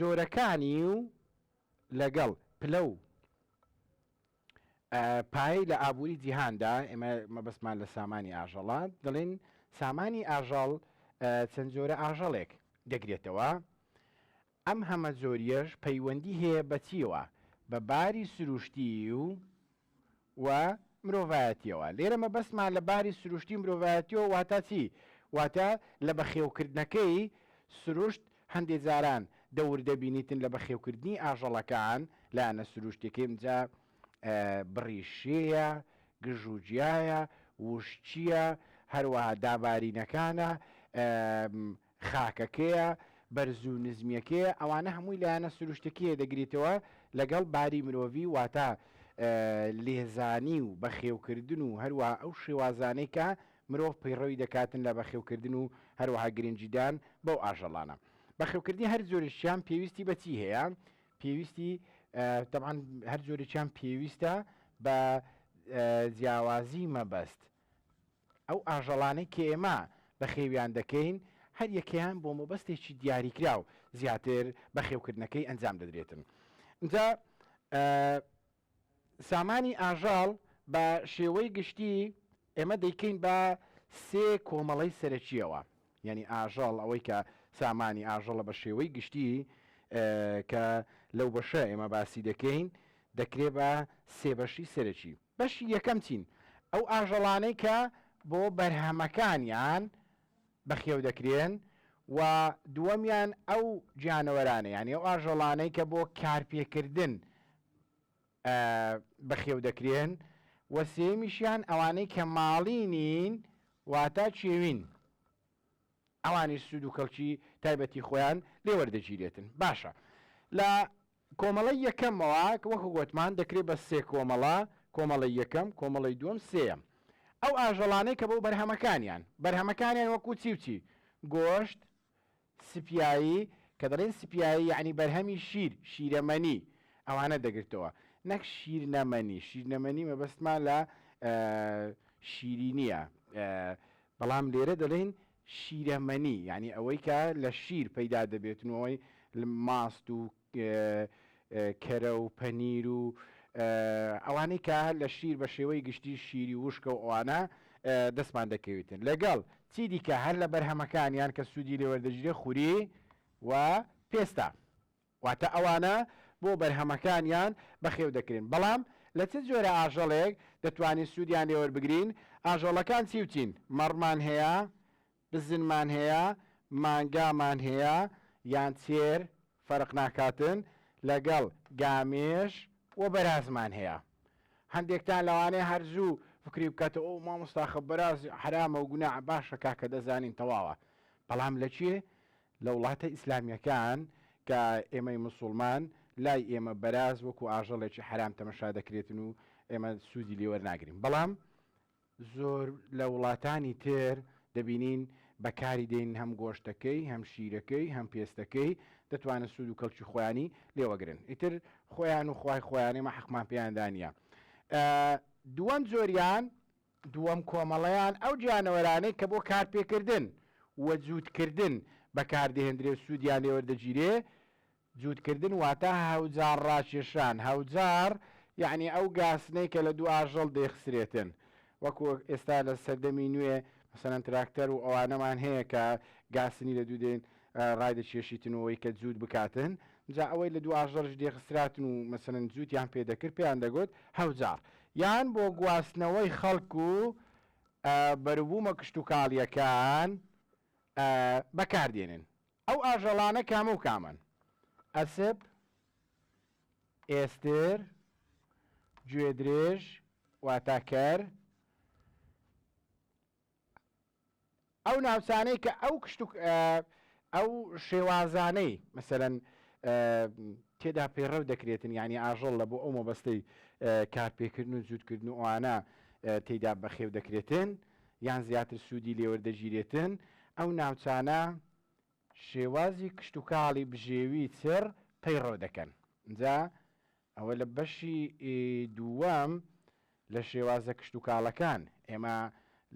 جۆرەکانی و لەگەڵ پلە و پایی لە ئابووری جیهاندا ئێمە مەبەستمان لە سامانی ئاژەڵات دەڵێن سامانی ئاژەڵ چەند جۆرە ئاژەڵێک دەگرێتەوە ئەم هەمەجۆرییەش پەیوەندی هەیە بە چییەوە؟ بە باری سروشتیی و و مرۆڤایەتییەوە. لێرە مەبەستمان لە باری سروشتی و مرۆڤایەتییەوە واتا چی؟ واتا لە بەخێوکردنەکەی سروشت هەندێ جاران دەور دەبینیتن لە بەخێوکردنی ئاژەڵەکان، لایەنە سروشتییەکەی ئمجا بڕیشێیە، گژ و گیایە، وشکییە، هەروەها دابارینەکانە، خاکەکەیە، بەرز و نزمیەکەیە، ئەوانە هەمووی لایەنە سروشتەکیە دەگریتەوە لەگەڵ باری مرۆڤی واتە لێزانی و بەخێوکردن و هەروەها ئەو شێوازانەی کە مرۆڤ پەیڕەوی دەکاتن لە بەخێوکردن و هەروەها گرنگیدان بەو ئاژەڵانە. بەخێوکردنی هەر جۆرێکیان پێویستی بە چی هەیە؟ پێویستی تەبعەن هەر جۆرێکیان پێویستە بە جیاوازی مەبەست ئەو ئاژەڵانەی کە ئێمە بەخێویان دەکەین، هەر یەکەیان بۆ مەبەستێکی دیاریکراو زیاتر بەخێوکردنەکەی ئەنجام دەدرێتن. ئینجا سامانی ئاژەڵ بە شێوەی گشتی ئێمە دەیکەین بە سێ کۆمەڵەی سەرەکییەوە. یانی ئاژەڵ ئەوەی کە سامانی ئاژەڵە بە شێوەی گشتی کە لەو بەشە ئێمە باسی دەکەین، دەکرێ بە سێ بەشی سەرەکی. بەشی یەکەم چین؟ ئەو ئاژەڵانەی کە بۆ بەرهەمەکانیان بەخێو دەکرێن و دووەمیان ئەو گیانەوەرانە یانی ئەو ئاژەڵانەی کە بۆ کارپێکردن بەخێو دەکرێن و سێمیشیان ئەوانەی کە ماڵی نین واتە چێوین. ئەوانیش سوود و کەڵکی تایبەتی خۆیان لێ وەردەگیرێتن. باشە لە کۆمەڵەی یەکەمەوە وەکو گۆتمان دەکرێ بە سێ کۆمەڵە، کۆمەڵەی یەکەم، کۆمەڵەی دووەم، سێیەم. ئەو ئاژەڵانەی کە بۆ بەرهەمەکانیان، بەرهەمەکانیان وەکو چی و چی؟ گۆشت، سپیایی، کە دەڵێن سپیایی یەعنی بەرهەمی شیر، شیرەمەنی، ئەوانە دەگرتەوە. نەک شیرنەمەنی، شیرنەمەنی مەبەستمان لە شیرینییە، بەڵام لێرە دەلێین شیرەمەنی یانی ئەوەی کە لە شیر پەیدا دەبێت و ئەوەی ماست و کەرە و پەنیر و ئەوانەی کە لە شیر بە شێوەی گشتی شیری وشکە و ئەوانە دەستمان دەکەویتن لەگەڵ چی دیکە هەر لە بەرهەمەکانیان کە سوودی لێوەردەگیرێت خوری و پێستا. واتە ئەوانە بۆ بەرهەمەکانیان بەخێو دەکرێن، بەڵام لە چ جۆرە ئاژەڵێک دەتوانین سوودیان لێوەربگرین؟ ئاژەڵەکان چی و چین؟ مەڕمان هەیە؟ بزنمان هەیە؟ مانگامان هەیە؟ یان چێر، فەرق ناکاتن، لەگەڵ گامێش و بەرازمان هەیە. هەندێکتان لەوانەیە هەر زوو فکری بکاتەوە، ئۆو مامۆستا خە بەراز حەرامە و گوناحە، باشە کاکە دەزانین تەواوە، بەڵام لە کوێ؟ لە وڵاتە ئیسلامیەکان کە ئێمەی مسوڵمان لای ئێمە بەراز وەکو ئاژەڵێکی حەرام تەمەشا دەکرێتن و ئێمە سوودی لێ وەرناگرین بەڵام زۆر لە وڵاتانی تر دەبینین بەکاری دێن هەم گۆشتەکەی هەم شیرەکەی هەم پێستەکەی دەتوانن سوود و کەڵکی خۆیانی لێوەگرن ئیتر خۆیان و خوای خۆیانێمە حەقمان پێیاندا نیە دووەم جۆریان دووەم کۆمەڵەیان ئەو گیانەوەرانەی کە بۆ کارپێکردن و جووتکردن بەکاردەهێندرێ و سوودیان لێوەردەگیرێ، جووتکردن واتە هەوجار ڕاکێشان، هەوجار یەعنی ئەو گاسنەی کە لە دوو ئاژەڵ دەیخسرێتن، وەکوو ئێستا لە سەردەمی نوێ مەسەلەن تراکتەر و ئەوانەمان هەیە کە گاسنی لە دوو دێن ڕایدەکێشیتن و ئەوەی کە جووت بکاتن، جا ئەوەی لە دوو ئاژەڵیش دێخسراتن و مەسەلەن جووتیان پێ دەکرد پێیان دەگوت هەوجار، یان بۆ گواستنەوەی خەڵک و بەروبوومە کشتوکاڵییەکان بەکاردێنن، ئەو ئاژەڵانە کامە و کامەن؟ ئەسپ، ئێستر، گوێدرێژ، واتا کەر، ئەو ناوچانەی کە ئەو کشت و ئەو شێوازانەی مەسەرەن تێدا پێڕەو دەکرێتن ینی ئاژەڵ لە بۆ ئەو مەبەستەی کارپێکردن و جووتکردن و ئەوانە تێدا بەخێو دەکرێتن یان زیاتر سوودی لێوەردەگیرێتن ئەو ناوچانە شێوازی کشتتوکاڵی بژێوی چڕ پەیڕەو دەکەن جا ئەوە لە بەشی دووەم لە شێوازە کشتوکاڵەکان ئێمە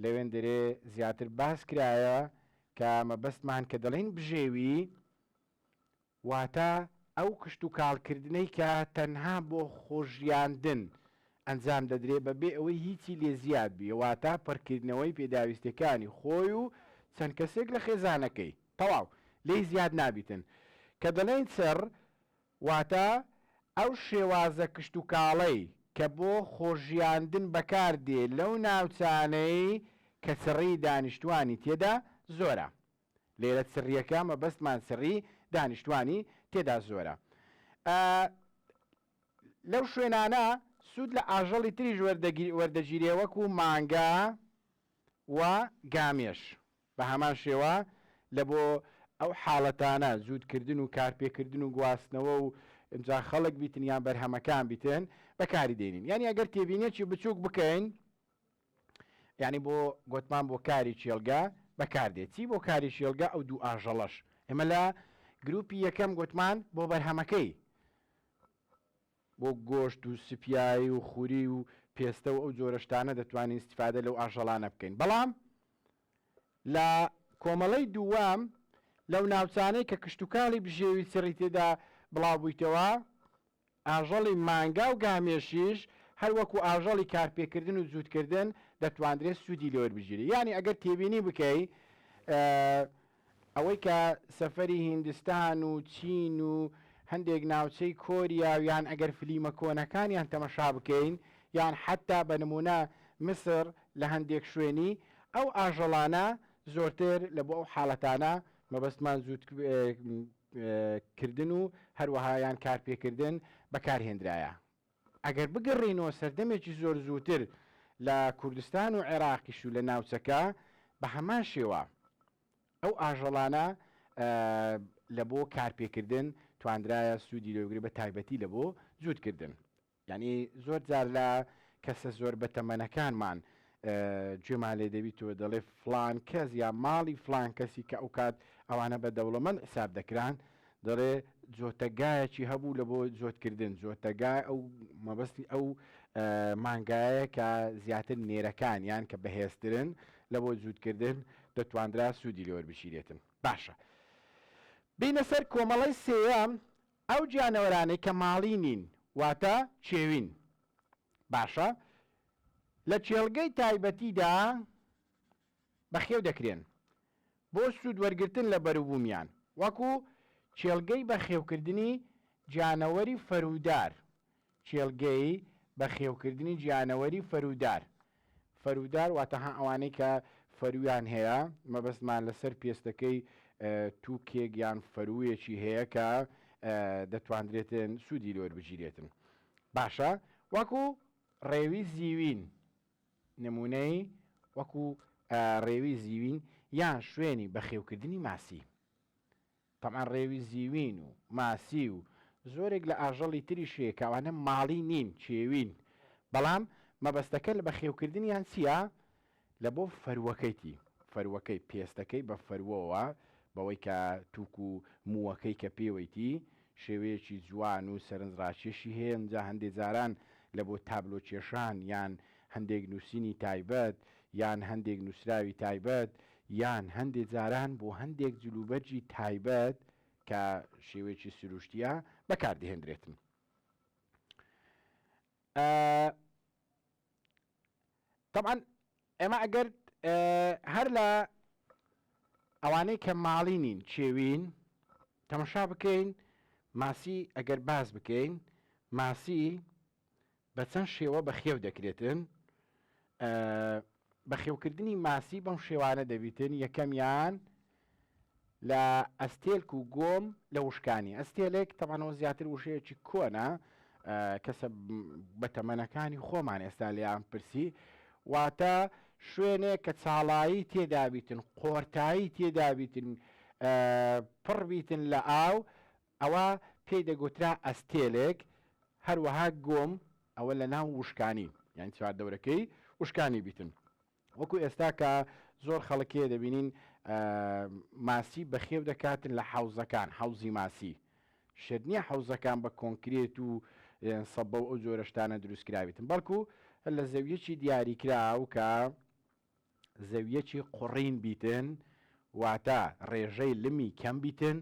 لەوێندەرێ زیاتر باس کرایە کە مەبەستمان کە دەڵێین بژێوی واتە ئەو کشتوکاڵکردنەی کە تەنها بۆ خۆژیاندن ئەنجام دەدرێ بەبێ ئەوەی هیچی لێ زیاد بێ واتە پڕکردنەوەی پێداویستەکانی خۆی و چەند کەسێک لە خێزانەکەی تەواو لێی زیاد نابیتن کە دەڵێین چڕ واتە ئەو شێوازە کشتوکاڵەی کە بۆ خۆژیاندن بەکار دێ لەو ناوچانەی کە چڕیی دانیشتوانی تێدا زۆرە. لێرە چڕییەکە مەبەستمان چڕیی دانیشتوانی تێدا زۆرە. ئە لەو شوێنانە سوود لە ئاژەڵی تریش وەردەگیرێ وەردەگیرێ وەکوو مانگا و گامێش. بە هەمان شێوە لە بۆ ئەو حاڵەتانە جووتکردن و کارپێکردن و گواستنەوە و ئینجا خەڵک بیتن یان بەرهەمەکان بیتن بەکاری دێنین یانی ئەگەر تێبینێکی بچووک بکەین یانی بۆ گوتمان بۆ کاری کێڵگە بەکاردێت چی بۆ کاری شێڵگە ئەو دوو ئاژەڵەش ئێمە لە گروپی یەکەم گوتمان بۆ بەرهەمەکەی بۆ گۆشت و سپیایی و خوری و پێستە و ئەو جۆرە شتانە دەتوانین ئیستیفادە لەو ئاژەڵانە بکەین بەڵام لە کۆمەڵەی دووەم لەو ناوچانەی کە کشتوکاڵی بژێوی چڕی تێدا بڵاو بوویتەوە ئاژەڵی مانگا و گامێشیش هەروەکو ئاژەڵی کارپێکردن و جووتکردن دەتواندرێت سوودی لێوەربگیرێت یانی ئەگەر تێبینی بکەی ئەوەی کە سەفەری هیندستان و چین و هەندێک ناوچەی کۆریا و یان ئەگەر فلیمە کۆنەکانیان تەمەشا بکەین یان حەتتا بە نموونە میسر لە هەندێک شوێنی ئەو ئاژەڵانە زۆرتر لە بۆ ئەو حاڵەتانە مەبەستمان جووت کردن و هەروەها یان کارپێکردن بەکارهێنرایە. ئەگەر بگەڕێینەوە سەردەمێکی زۆر زووتر لە کوردستان و عێراقیش و لە ناوچەکە بە هەمان شێوە ئەو ئاژەڵانە لە بۆ کارپێکردن تواندرایە سوودی لێ بگرێ بە تایبەتی لە بۆ جووتکردن. یانی زۆر جار لە کەسە زۆر بەتەمەنەکانمان گوێمان لێ دەبیت و دەڵێ فڵان کەس یا ماڵی فڵان کەسی کە ئەوکات ئەوانە بە دەوڵەمەند حساب دەکران دەڵێ جۆتەگایەکی هەبوو لە بۆ جۆتکردن جۆتەگای ئەو مەبەستی ئەو مانگایە کە زیاتر نێرەکان یان کە بەهێزترن لە بۆ جووتکردن دەتواندرا سوودی لێوەر بشیرێتن باشە بینە سەر کۆمەڵی سێەم ئەو گیانەوەرانەی کە ماڵی نین واتە چێوین باشە لە کێڵگەی تایبەتیدا بەخێو دەکرێن بۆ سوود وەرگرتن لە بەروبوومیان، وەکو کێڵگەی بەخێوکردنی گیانەوەری فەرودار کێڵگەی بەخێوکردنی گیانەوەری فەرودار، فەرودار واتە هە ئەوانەی کە فەرویان هەیە، مەبەستمان لەسەر پێستەکەی تووکێک یان فەروویەکی هەیە کە دەتواندرێتن سوودی لێ وەربگیرێتن باشە وەکو ڕێوی زیوین، نموونەی وەکو ڕێوی زیوین یان شوێنی بەخێوکردنی ماسی. تەبعەن ڕێوی زیوین و ماسی و زۆرێک لە ئاژەڵی تریش هەیە کە ئەوانە ماڵی نین، کێوین، بەڵام مەبەستەکە لە بەخێوکردنیان چییە؟ لە بۆ فەروەکەیتی، فەروەکەی، پێستەکەی بە فەروەوە، بەوەی کە تووک و مووەکەی کە پێوەیتی، شێوەیەکی جوان و سەرنجڕاکێشی هەیە، ئینجا هەندێ جاران لە بۆ تابلۆ کێشان، یان هەندێک نووسینی تایبەت، یان هەندێک نووسراوی تایبەت، یان هەندێ جاران بۆ هەندێک جلوبەرگی تایبەت کە شێوەیەکی سرووشتییە، بەکار دەهێندرێتن. ئە. تەبعەن ئێمە ئەگەر هەر لە ئەوانەی کە ماڵی نین چێوین تەمەشا بکەین ماسی ئەگەر باز بکەین ماسی بە چەند شێوە بە خێو دەکرێتن بەخێوکردنی ماسی بەم شێوانە دەبیتن یەکەمیان لە ئەستێلک و گۆم لە وشکانی ئەستێلێک تەبان ئەوە زیاتر وشەیەکی کۆنە کەسە بەتەمەنەکانی خۆمان ئێستا لێیان پرسی واتە شوێنێک کە چاڵایی تێدابیتن قۆرتایی تێدابیتن پڕ بیتن لە ئاو ئەوە پێی دەگوترا ئەستێلێک هەروەها گۆم ئەوە لە ناو وشکانی یان چوار دەورەکەی وشکانی بیتن وەکو ئێستا کە زۆر خەڵک کێ دەبینین ماسی بەخێو دەکاتن لە حەوزەکان حەوزی ماسی شت نییە حەوزەکان بە کۆنکرێت و سەبە و ئەو جۆرەشتانە دروستکراویتن بەڵکو لە زەویەکی دیاریکراو کە زەویەکی قڕین بیتن واتە ڕێژەی لمی کەم بیتن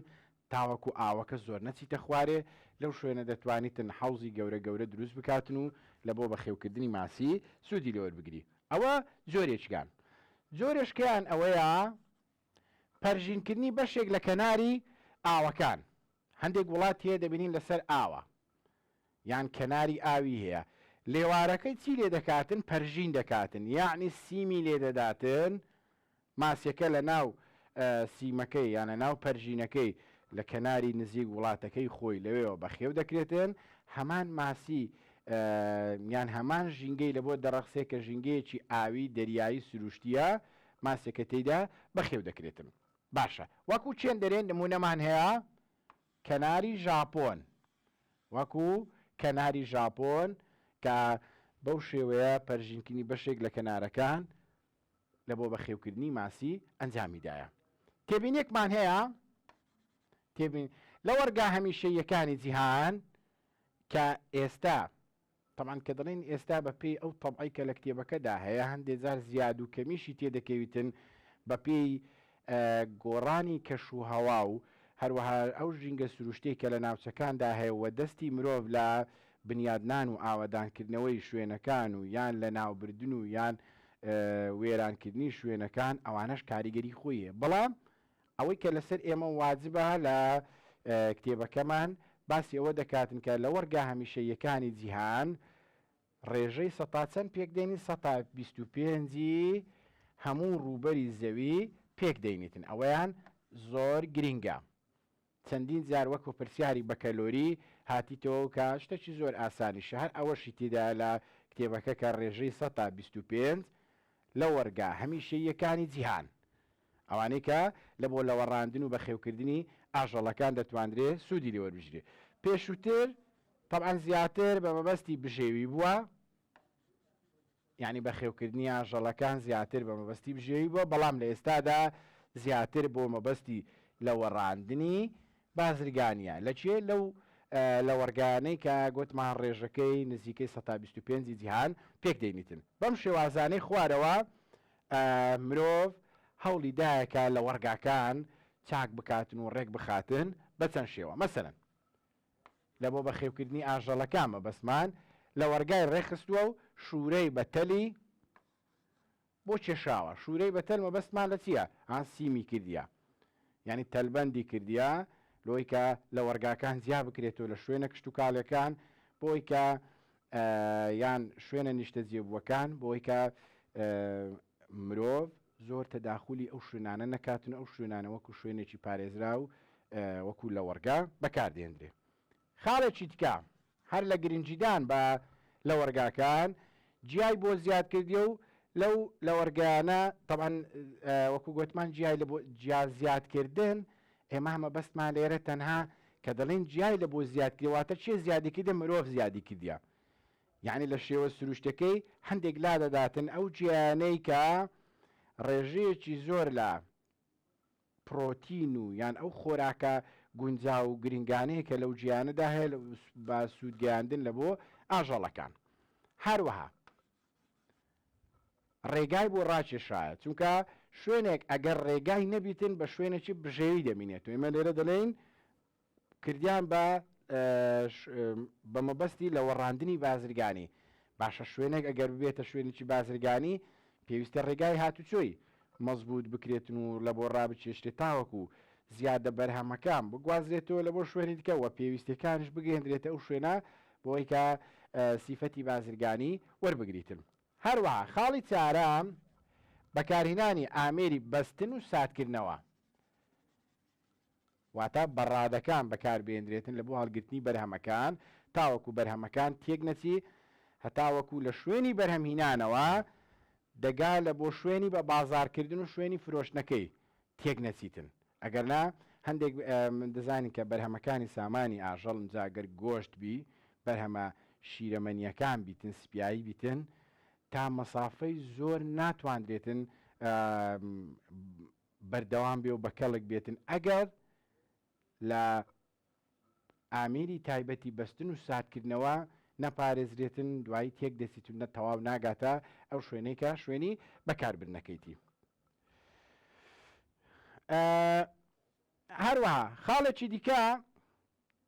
تاوەکو ئاوەکە زۆر نەچیتە خوارێ لەو شوێنە دەتوانیتن حەوزی گەورە گەورە دروست بکاتن و لە بۆ بەخێوکردنی ماسی سوودی لێوەربگری ئەوە جۆرێکیان جۆرێشکەیان ئەوەیە پەرژینکردنی بەشێک لە کەناری ئاوەکان هەندێک وڵات هەیە دەبینین لەسەر ئاوە یان کەناری ئاوی هەیە لێوارەکەی چی لێ دەکاتن پەرژین دەکاتن یەعنی سیمی لێ دەداتن ماسیەکە لە ناو سیمەکەی یان لە ناو پەرژینەکەی لە کەناری نزیک وڵاتەکەی خۆی لەوێەوە بەخێو دەکرێتن هەمان ماسی یان هەمان ژینگەی لە بۆ دەڕەخسێ کە ژینگەیەکی ئاوی دەریایی سروشتیە ماسیەکە تێیدا بەخێو دەکرێتن باشە وەکو چێندەرێن نمونەمان هەیە کەناری ژاپۆن، وەکو کەناری ژاپۆن کە بەو شێوەیە پەرژینکردنی بەشێک لە کەنارەکان لە بۆ بەخێوکردنی ماسی ئەنجامی دایە. تێبینیەکمان هەیە تێبین لە وەرگا هەمیشەییەکانی جیهان کە ئێستا تەبعەن کە دەڵێین ئێستا بە پێی ئەو تەبعەی کە لە کتێبەکەدا هەیە هەندێ جار زیاد و کەمیشی تێ دەکەویتن بە پێی گۆڕانی کەش و هەوا و هەروەها ئەو ژینگە سروشتەی کە لە ناوچەکاندا هەیە و دەستی مرۆڤ لە بنیادنان و ئاوەدانکردنەوەی شوێنەکان و یان لە ناوبردن و یان وێرانکردنی شوێنەکان ئەوانەش کاریگەری خۆی هەیە بەڵام ئەوەی کە لەسەر ئێمە واجبە لە کتێبەکەمان باسی ئەوە دەکاتن کە لە وەڕگا هەمیشەییەکانی جیهان ڕێژەی سەتا چەند پێکدێنی سەتا بیست و پێنجی هەموو ڕووبەری زەوی پێکدەینیتن ئەوەیان زۆر گرینگە چەندین جار وەکو پرسیاری بەکەلۆری هاتیتەوە کە شتەکی زۆر ئاسانیشە هەر ئەوەشی تێدا لە کتێبەکە کە ڕێژەی سەتا بیست و پێنج لە وەرگا هەمیشەییەکانی جیهان ئەوانەی کە لە بۆ لەوەڕاندن و بەخێوکردنی ئاژەڵەکان دەتواندرێ سوودی لێ وەربگیرێ. پێشووتر تەبعەن زیاتر بە مەبەستی بژێوی بووە، یانی بەخێوکردنی ئاژەڵەکان زیاتر بە مەبەستی بژێوی بووە، بەڵام لە ئێستادا زیاتر بۆ مەبەستی لەوەڕاندنی بازرگانییە. لە کوێ؟ لەو لەوەڕگایانەی کە گۆتمان ڕێژەکەی نزیکەی سەتا بیست و پێنج ی جیهان پێک دەینیتن. بەم شێوازانەی خوارەوە مرۆڤ هەوڵی دایە کە لەوەڕگاکان چاک بکاتن و ڕێک بخاتن بە چەند شێوە مەسەلەن لە بۆ بەخێوکردنی ئاژەڵەکان مەبەستمان لەوەڕگای ڕێکخستووە و شوورەی بە تەلی بۆ کێشاوە شوورەی بە تەل مەبەستمان لە چییە ئاسیمی کردە یانی تەلبەندی کردیە لۆی کە لەوەڕگاکان جیا بکرێتەوە لە شوێنە کشتوکاڵێکان بۆی کە یان شوێنە نیشتە جێبووەکان بۆی کە مرۆڤ زۆر تەداخلی ئەو شوێنانە نەکاتن ئەو شوێنانە وەکو شوێنێکی پارێزرا و وەکو لەوەڕگا بەکاردێندرێ خاڵێکی دیکە هەر لە گرنگیدان بە لەوەڕگاکان جیای بۆ زیاد کردیە و لەو لەوەڕگەیانە تەبعەن وەکو گۆتمان جیای لە بۆ جیا زیاد کردن ئێمە هەمە بەستمان لێرە تەنها کە دەڵێن جیای لە بۆ زیاد کردواتە چێ زیادی کردە مرۆڤ زیادی کردە یعنی لە شێوە سروشتەکەی هەندێک لا دەداتن ئەو جیانەی کە ڕێژەیەکی زۆر لە پڕۆتین و یان ئەو خۆراکە گونجاو و گرنگانەی کە لەو جیانەدا هەیە بە سوود گەیاندن لە بۆ ئاژەڵەکان هەروەها ڕێگای بۆ ڕاکێشرایە چونکە شوێنێک ئەگەر ڕێگای نەبیتن بە شوێنێکی بژێوی دەمینێت و ئێمە لێرە دەلێین کردیان بە بەمەبەستی لەوەڕاندنی بازرگانی باشە شوێنێک ئەگەر ببێتە شوێنیی بازرگانی پێویستە ڕێگای هاتوچۆی مەزبووت بکرێتن و لەبۆ ڕابچێشتێ تاوەکو زیادە بەرهەمەکان بگوازرێتەوە لەبۆ شوێنی دکە وە پێویستەکانش بگەێندرێتە ئەو شوێنە بۆیکە سیفەتی بازرگانی وەربگریتن هەروەها خاڵی چارە بەکارهینانی ئامێری بەستن و ساتکردنەوە واتە بەڕادەکان بەکاربهێندرێتن لە بۆ هەڵگرتنی بەرهەمەکان تاوەکو بەرهەمەکان تێک نەچی هەتاوەکو لە شوێنی بەرهەمهینانەوە دەگا لە بۆ شوێنی بە بازاڕکردن و شوێنی فرۆشتنەکەی تێک نەچیتن ئەگەرنا هەندێک من دەزانین کە بەرهەمەکانی سامانی ئاژەڵن جا گەر گۆشت بی بەرهەمە شیرەمەنیەکان بیتن سپیایی بیتن تا مەسافەی زۆر ناتواندرێتن بەردەوام بێ و بە کەڵک بێتن ئەگەر لە ئامیری تایبەتی بەستن و ساردکردنەوە نەپارێزرێتن دوایی تێک دەچیت و نە تەواو ناگاتە ئەو شوێنەی کە شوێنی بەکاربردنەکەیتی. هەروەها خاڵێکی دیکە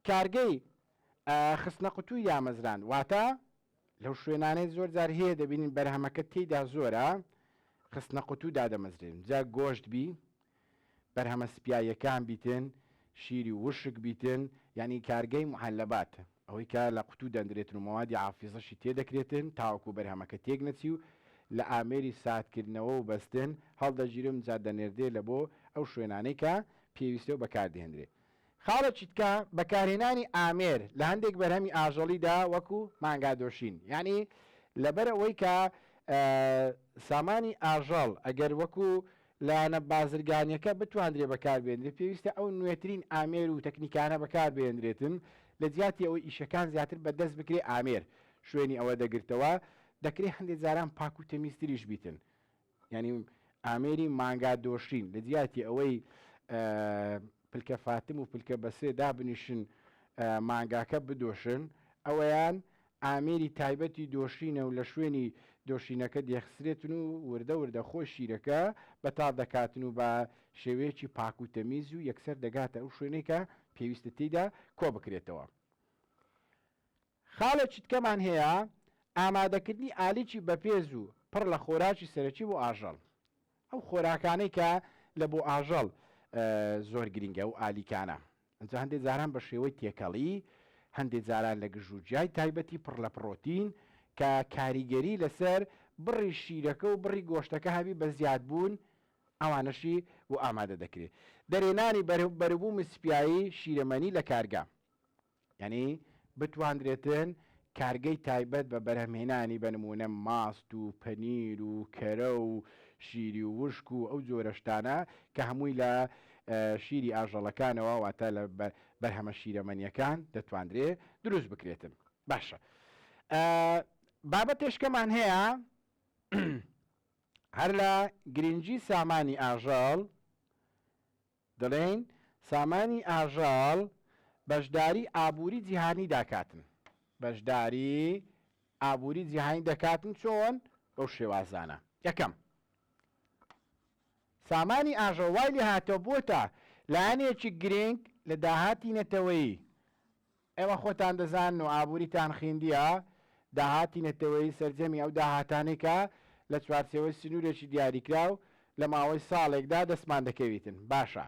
کارگەی خستنە قوتووی دامەزراند، واتە لەو شوێنانەی زۆر جار هەیە دەبینین بەرهەمەکە تێیدا زۆرە خستنە قوتوو دادەمەزرێن جا گۆشت بی بەرهەمە سپیاییەکان بیتن شیری وشک بیتن یانی کارگەی معلبات ئەوەی کە لە قوتوو دەندرێتن و مەوادی عافیزەشی تێدەکرێتن تاوەکو بەرهەمەکە تێک نەچی و لە ئامێری ساردکردنەوە و بەستن هەڵدەگیرێ و جا دەنێردرێ لە بۆ ئەو شوێنانەی کە پێویستە و بەکاردەهێندرێ. خاڵە چیتکە، بەکارهێنانی ئامێر لە هەندێک بەرهەمی ئاژەڵیدا وەکو مانگادۆشین یانی لەبەر ئەوەی کە سامانی ئاژەڵ ئەگەر وەکو لایەنە بازرگانیەکە بتواندرێ بەکاربێنرێت پێویستە ئەو نوێترین ئامێر و تەکنیکانە بەکاربێنرێتن لە جیاتی ئەوەی ئیشەکان زیاتر بەدەست بکرێ ئامێر شوێنی ئەوە دەگرتەوە دەکرێ هەندێک جاران پاک و تەمیزتریش بیتن یانی ئامێری مانگا دۆشین لە جیاتی ئەوەی پلکە فاتم و پلکە بەسێ دابنیشن مانگاکە بدۆشن ئەوەیان ئامێری تایبەتی دۆشینە و لە شوێنی دۆشینەکە دێخسرێتن و وردە وردە خۆی شیرەکە بەتاڵ دەکاتن و بە شێوەیەکی پاک و تەمیز و یەکسەر دەگاتە ئەو شوێنێکە پێویستە تێیدا کۆ بکرێتەوە. خاڵێ چتکەمان هەیە، ئامادەکردنی ئالیکی بەپێز و پڕ لە خۆراکی سەرەکی بۆ ئاژەڵ. ئەو خۆراکانەی کە لە بۆ ئاژەڵ زۆر گرینگە و ئالیکانە. ئەنجا هەندێ جاران بە شێوەی تێکەڵی، هەندێ جاران لە گژ و گیای تایبەتی پڕ لە پڕۆتین کە کاریگەری لەسەر بڕی شیرەکە و بڕی گۆشتەکە هەبی بە زیادبوون ئەوانەشی بۆ ئامادە دەکرێ. دەرێنانی بەروبوومی سپیایی شیرەمەنی لە کارگە. یانی بتواندرێتن کارگەی تایبەت بە بەرهەمهێنانی بە نموونە ماست و پەنیر و کەرە و شیری و وشک و ئەو جۆرە شتانە کە هەمووی لە شیری ئاژەڵەکانەوە واتە لە بەرهەمە شیرەمەنیەکان دەتواندرێ دروست بکرێتن باشە بابەتێشکەمان هەیە هەر لە گرنگی سامانی ئاژەڵ دەڵێن سامانی ئاژەڵ بەشداری ئابووری جیهانی داکاتن بەشداری ئابووری جیهانی دەکاتن چۆن بەو شێوازانە یەکەم سامانی ئاژەڵ وای لێ هاتەوە بۆتە لایەنێکی گرنگ لە داهاتی نەتەوەیی ئێوە خۆتان دەزانن و ئابووریتان خیندییە، داهاتی نەتەوەیی سەرجەمی ئەو داهاتانەی کە لە چوارچێوەی سنوورێکی دیاریکراو لە ماوەی ساڵێکدا دەستمان دەکەویتن. باشە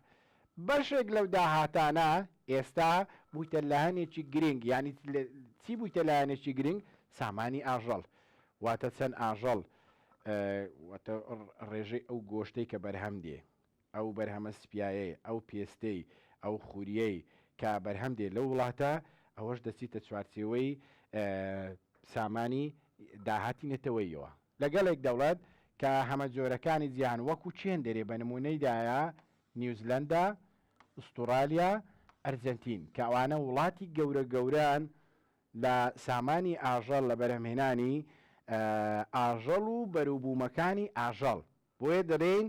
بەشێک لەو داهاتانە ئێستا بوویتە لایەنێکی گرنگ، یانی چی بوویتە لایەنێکی گرنگ؟ سامانی ئاژەڵ، واتە چەند ئاژەڵ، واتە ڕێژەی ئەو گۆشتەی کە بەرهەم دێ. ئەو بەرهەمە سپیایەی، ئەو پێستەی، ئەو خوریەی کە بەرهەم دێ لەو وڵاتە، ئەوەش دەچیتە چوارچێوەی سامانی داهاتی نەتەوەییەوە. لە گەلێک دەوڵەت کە هەمەجۆرەکانی جیهان وەکوو چێن دەرێ بە نموونەی دایە، نیوزلەندا، ئوستوڕالیا، ئەرجەنتین کە ئەوانە وڵاتی گەورە گەورەن لە سامانی ئاژەڵ لە بەرهەمهێنانی ئاژەڵ و بەروبوومەکانی ئاژەڵ بۆیە دەلێین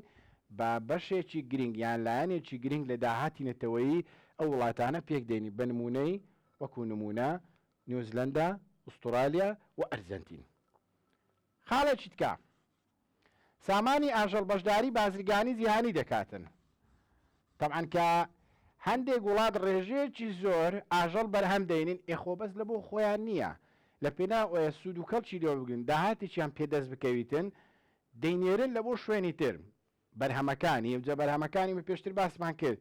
با بەشێکی گرینگ یان لایەنێکی گرینگ لە داهاتی نەتەوەیی ئەو وڵاتانە پێک دێنی بە نموونەی وەکو نموونە نیوزلەندا، ئوستورالیا و ئەرجەنتین. خاڵێکی تکە، سامانی ئاژەڵ بەشداری بازرگانی جیهانی دەکاتن. تەبعەن کە هەندێک وڵات ڕێژەیەکی زۆر ئاژەڵ بەرهەم دەینین ئێ خۆ بەس لە بۆ خۆیان نییە لە پێناو ئەوەیە سوود و کەڵکی لێوە بگرن داهاتێکیان پێ دەست بکەویتن دەینێرن لە بۆ شوێنی تر بەرهەمەکانی ئەوجا بەرهەمەکانی من پێشتر باسمان کرد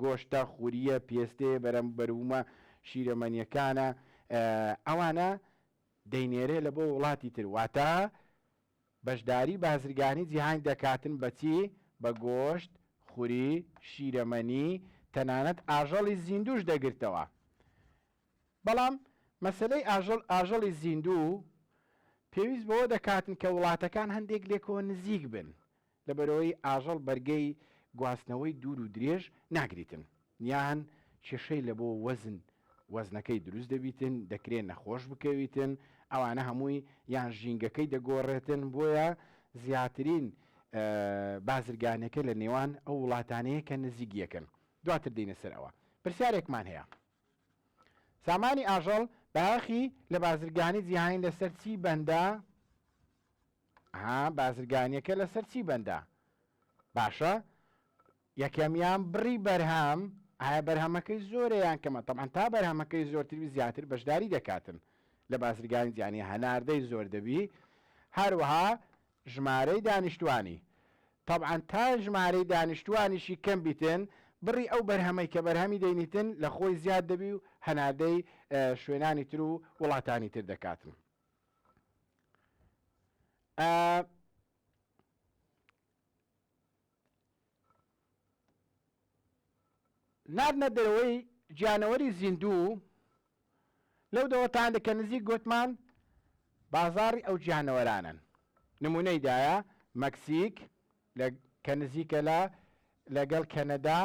گۆشتە خوریە پێستێ بەرەم بەرومە شیرەمەنیەکانە ئەوانە دەینێرێ لە بۆ وڵاتی تر واتە بەشداری بازرگانی جیهانی دەکاتن بەچی بە گۆشت خوری شیرەمەنی تەنانەت ئاژەڵی زیندوش دەگرتەوە بەڵام مەسەلەی ئاژەڵ، ئاژەڵی زیندوو، پێویست بەوە دەکاتن کە وڵاتەکان هەندێک لێکەوە نزیک بن، لەبەرئەوەی ئاژەڵ بەرگەی گواستنەوەی دوور و درێژ ناگریتن، یان کێشەی لە بۆ وەزن، وەزنەکەی دروست دەبیتن، دەکرێ نەخۆش بکەویتن، ئەوانە هەمووی یان ژینگەکەی دەگۆڕێتن، بۆیە زیاترین بازرگانێکە لە نێوان ئەو وڵاتانەیە کە نزیک یەکن، دواتر دێینە سەر ئەوە. پرسیارێکمان هەیە. سامانی ئاژەڵ باخی لە بازرگانی جیهانی لەسەر چی بەندە ها بازرگانیەکە لەسەر چی بەندە باشە یەکەمیان بڕی بەرهەم ئایا بەرهەمەکەی زۆریان کەمە تەمان تا بەرهەمەکەی زۆرتری زیاتر بەشداری دەکاتن لە بازرگانی جیانی هەناردەی زۆر دەبی هەروەها ژمارەی دانیشتوانی، تەبعەن تا ژمارەی دانیشتوانیشی کەم بیتن، بڕی ئەو بەرهەمەی کە بەرهەمی دەینیتن لە خۆی زیاد دەبی و هەناردەی شوێنانی تر و وڵاتانی تر دەکاتن. ئە. ناردنە دەرەوەی گیانەوەری زیندوو لەو دەوڵەتانە کە نزیک گوتمان بازاڕی ئەو گیانەوەرانن نمونەی دایە مەکسیک کە نزیکە لە لەگەڵ کەنەدا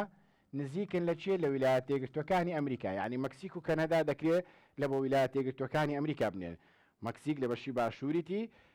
نزیکن لە چێ لە ویلایەت تێگرتوەکانی ئەمریکا یعنی مەکسیک و کەنەدا دەکرێت لە بۆ ویلایەت تێگرتوەکانی ئەمریکا بنێن مەکسیک لە بەشی باشووریتی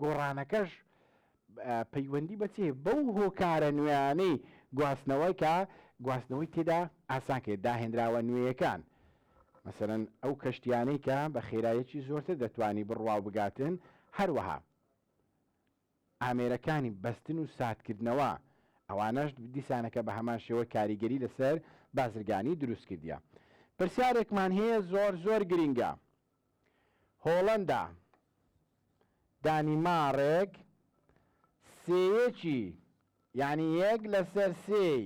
گۆڕانەکەش پەیوەندی بە چی هەیە؟ بەو هۆکارە نوێیانەی گواستنەوە کە گواستنەوەی تێدا ئاسان کرد، داهێنراوە نوێیەکان، مەسەلەن ئەو کەشتییانەی کە بە خێراییەکی زۆرتر دەتوانی بڕوا و بگاتن، هەروەها ئامێرەکانی بەستن و ساردکردنەوە، ئەوانەش دیسانەکە بە هەمان شێوە کاریگەری لەسەر بازرگانی دروست کردیە. پرسیارێکمان هەیە زۆر زۆر گرینگە. هۆڵەندا، دانیماڕک سێیەکی یانی یەک لەسەر سێی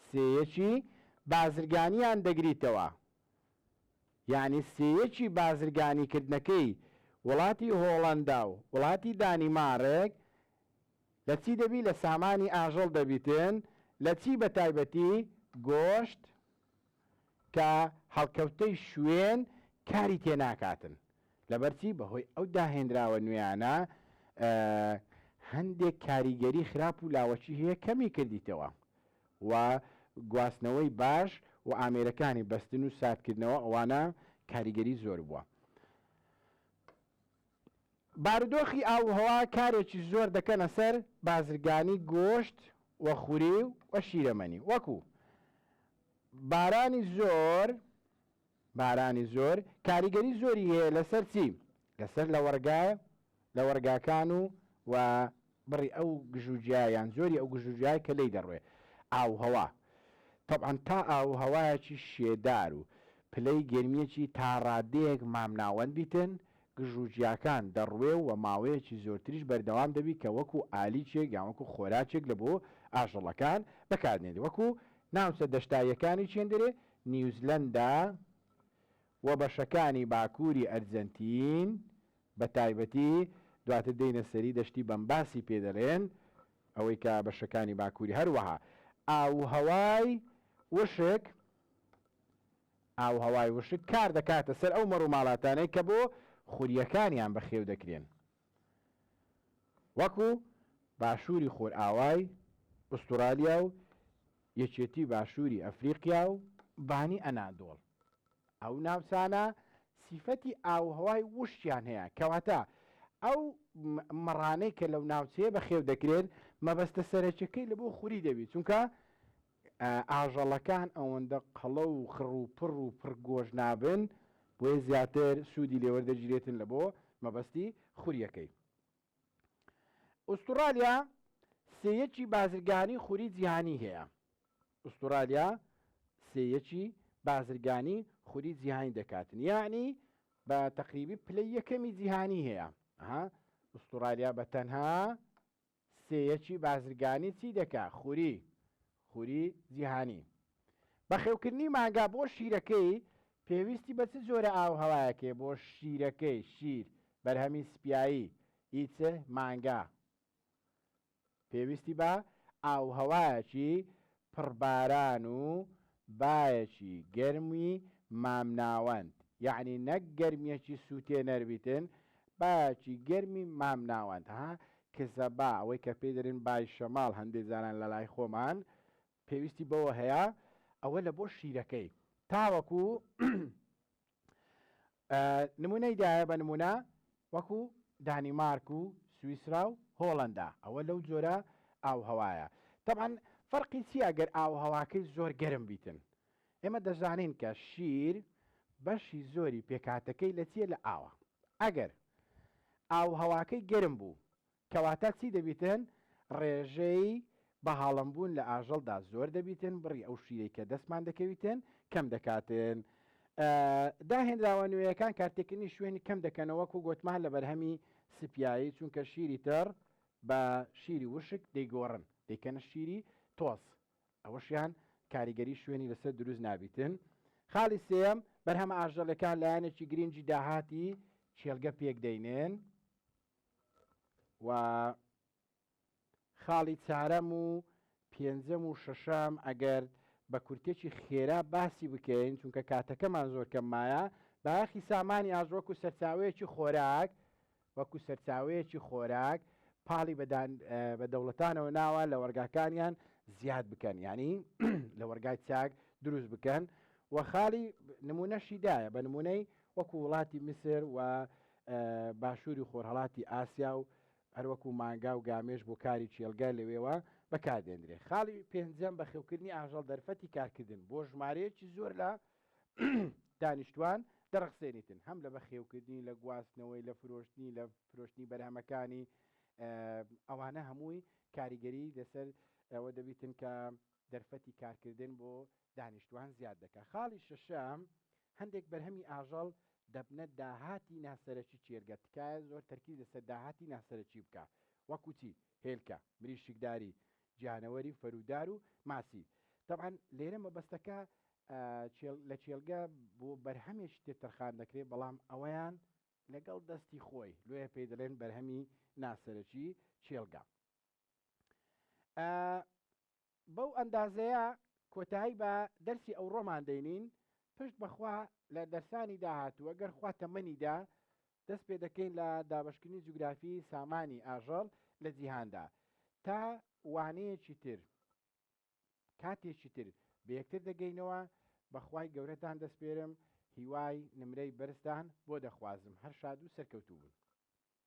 سێیەکی بازرگانیان دەگریتەوە یانی سێیەکی بازرگانیکردنەکەی وڵاتی هۆڵەندا و وڵاتی دانیماڕێک لە چی دەبی لە سامانی ئاژەڵ دەبیتن لە چی بە تایبەتی گۆشت کە هەڵکەوتەی شوێن کاری تێ ناکاتن لەبەرچی بەهۆی ئەو داهێنراوە نوێیانە هەندێک کاریگەری خراپ و لاوەچی هەیە کەمی کردیتەوە و گواستنەوەی باش و ئامێرەکانی بەستن و ساردکردنەوە ئەوانە کاریگەری زۆر بووە بارودۆخی ئاووهەوا کارێکی زۆر دەکەنە سەر بازرگانی گۆشت و خوری و شیرەمەنی وەکو، بارانی زۆر بارانی زۆر کاریگەری زۆری هەیە لەسەر چی؟ لەسەر لەوەڕگا لەوەڕگاکان و و. بڕی ئەو گژوگیا یان جۆری ئەو گژوگیای کە لێی دەڕوێ، ئاووهەوا، تەبعەن تا ئاووهەوایەکی شێدار و پلەی گەرمییەکی تا ڕادەیەک مامناوەند بیتن، گژوگیاکان دەڕوێ و ماوەیەکی زۆرتریش بەردەوام دەبی کە وەکو ئالیکێک یان وەکو خۆراکێک لە بۆ ئاژەڵەکان بەکاردێنێ وەکو ناوچە دەشتاییەکانی چێندرێ، نیوزلەندا و بەشەکانی باکووری ئەرجەنتین بە تایبەتی، دواتر دێینە سەری دەشتی بەمباسی پێ دەلێن، ئەوەی کە بەشەکانی باکووری هەروەها ئاووهەوای وشک ئاووهەوای وشک کار دەکاتە سەر ئەو مەڕوماڵاتانەی کە بۆ خورییەکانیان بەخێو دەکرێن. وەکو باشووری خۆرئاوای ئوستورالیا و یەکێتی باشووری ئەفریقیا و بانی ئەنادۆڵ. ئەو ناوچانە سیفەتی ئاووهەوای ووشکیان هەیە، کەواتە ئەو مەڕانەی کە لەو ناوچەیە بەخێو دەکرێن مەبەستە سەرەکیەکەی لەبۆ خوری دەبی چونکە ئاژەڵەکان ئەوەندە قەڵە و خڕ و پڕ و پڕ گۆشت نابن بۆیە زیاتر سوودی لێ وەردەگیرێتن لە بۆ مەبەستی خوریەکەی. ئوستوڕالیا سێیەکی بازرگانی خوری جیهانی هەیە. ئوستوڕالیا سێیەکی بازرگانی خوری جیهانی دەکاتن یعنی بە تەقریبی پلەی یەکەمی جیهانی هەیە ها ئوستوڕالیا بە تەنها سێیەکی بازرگانی چی دەکا؟ خوری، خوری جیهانی. بەخێوکردنی مانگا بۆ شیرەکەی پێویستی بە چ جۆرە ئاووهەوایەک هەیە بۆ شیرەکەی، شیر، بەرهەمی سپیایی، ی چ مانگا پێویستی بە ئاووهەوایەکی پڕ باران و بایەکی گەرمی مامناوەند یەعنی نەک گەرمیەکی سوتێنەر بیتن بایەکی گەرمی مامناوەند ها کزە با ئەوەی کە پێی دەرێن بای شەماڵ هەندێ جاران لە لای خۆمان پێویستی بەوە هەیە ئەوە لە بۆ شیرەکەی تاوەکو نمونەی دایە بە نمونە وەکو دانیمارک و سویسرا و هۆڵندا ئەوە لەو جۆرە ئاو هەوایە طبعا فەرقی چیە گەر ئاو هەواکەی زۆر گەرم بیتن ئێمە دەزانین کە شیر بەشی زۆری پێکاتەکەی لە چیە لە ئاوە ئەگەر ئاو هەواکەی گەرم بوو کەواتە چی دەبیتن؟ ڕێژەی بەهاڵم بوون لە ئاژەڵدا زۆر دەبیتن، بڕی ئەو شیرەی کە دەستمان دەکەویتن کەم دەکاتن. داهێنراوە نوێیەکان کارتێکردنی شوێنی کەم دەکەنەوە وەکو گۆتمان لە بەرهەمی سپیایی، چونکە شیری تڕ بە شیری وشک دەیگۆڕن دەیکەنە شیری تۆز، ئەوەشیان کاریگەری شوێنی لەسەر دروست نابیتن. خاڵی سێیەم، بەرهەمە ئاژەڵیەکان لایەنێکی گرینگی داهاتی کێلگە پێک دەینن. و خاڵی چارەم و پێنجەم و شەشەم ئەگەر بە کورتێکی خێرا باسی بکەین چونکە کاتەکەمان زۆر کەم مایە بایەخی سامانی ئاژ وەکو سەرچاوەیەکی خۆراک وەکو سەرچاوەیەکی خۆراک پاڵی بە دەوڵەتانەوە ناوە لە وەرگاکانیان زیاد بکەن ینی لە وەرگای چاک دروست بکەن و خاڵی نمونەشی دایە بە نمونەی وەکو وڵاتی میسر و باشووری خۆرهەڵاتی ئاسیا و هەروەکو مانگا و گامێش بۆ کاری کێڵگە لەوێوە بەکاردێندرێ. خاڵی پێنجەم بەخێوکردنی ئاژەڵ دەرفەتی کارکردن بۆ ژمارەیەکی زۆر لە دانیشتوان دەڕەخسێنیتن هەم لە بەخێوکردنی لە گواستنەوەی لە فرۆشتنی لە فرۆشتنی بەرهەمەکانی ئەوانە هەمووی کاریگەری لەسەر ئەوە دەبیتن کە دەرفەتی کارکردن بۆ دانیشتوان زیاد دەکات. خاڵی شەشەم، هەندێک بەرهەمی ئاژەڵ دەبنە داهاتی ناسەرەکی کێرگە، تکایە زۆر تەرکیز لەسەر داهاتی ناسەرەکی بکە وەکو چی، هێلکە، مریشکداری، گیانەوەری و فەرودار و ماسی. تەبعەن لێرە مەبەستەکە لە کێلگە بۆ بەرهەمێکی تر تەرخان دەکرێت بەڵام ئەوەیان لەگەڵ دەستی خۆی لۆیە پێی دەڵێن بەرهەمی ناسەرەکی کێلگە. بەو ئەندازەیە کۆتایی بە دەرسی ئەوڕۆمان دەینین، پشت بەخوا لە دەرسانی داهاتووە گەر خوا تەمەنی دا دەست پێ دەکەین لە دابەشکردنی جوگرافی سامانی ئاژەڵ لە جیهاندا تا وانەیەکی تر کاتێکی تر بەیەکتر دەگەینەوە بەخوای گەورەتان دەسپێرم هیوای نمرەی بەرزتان بۆ دەخوازم هەر شاد و سەرکەوتوو بن.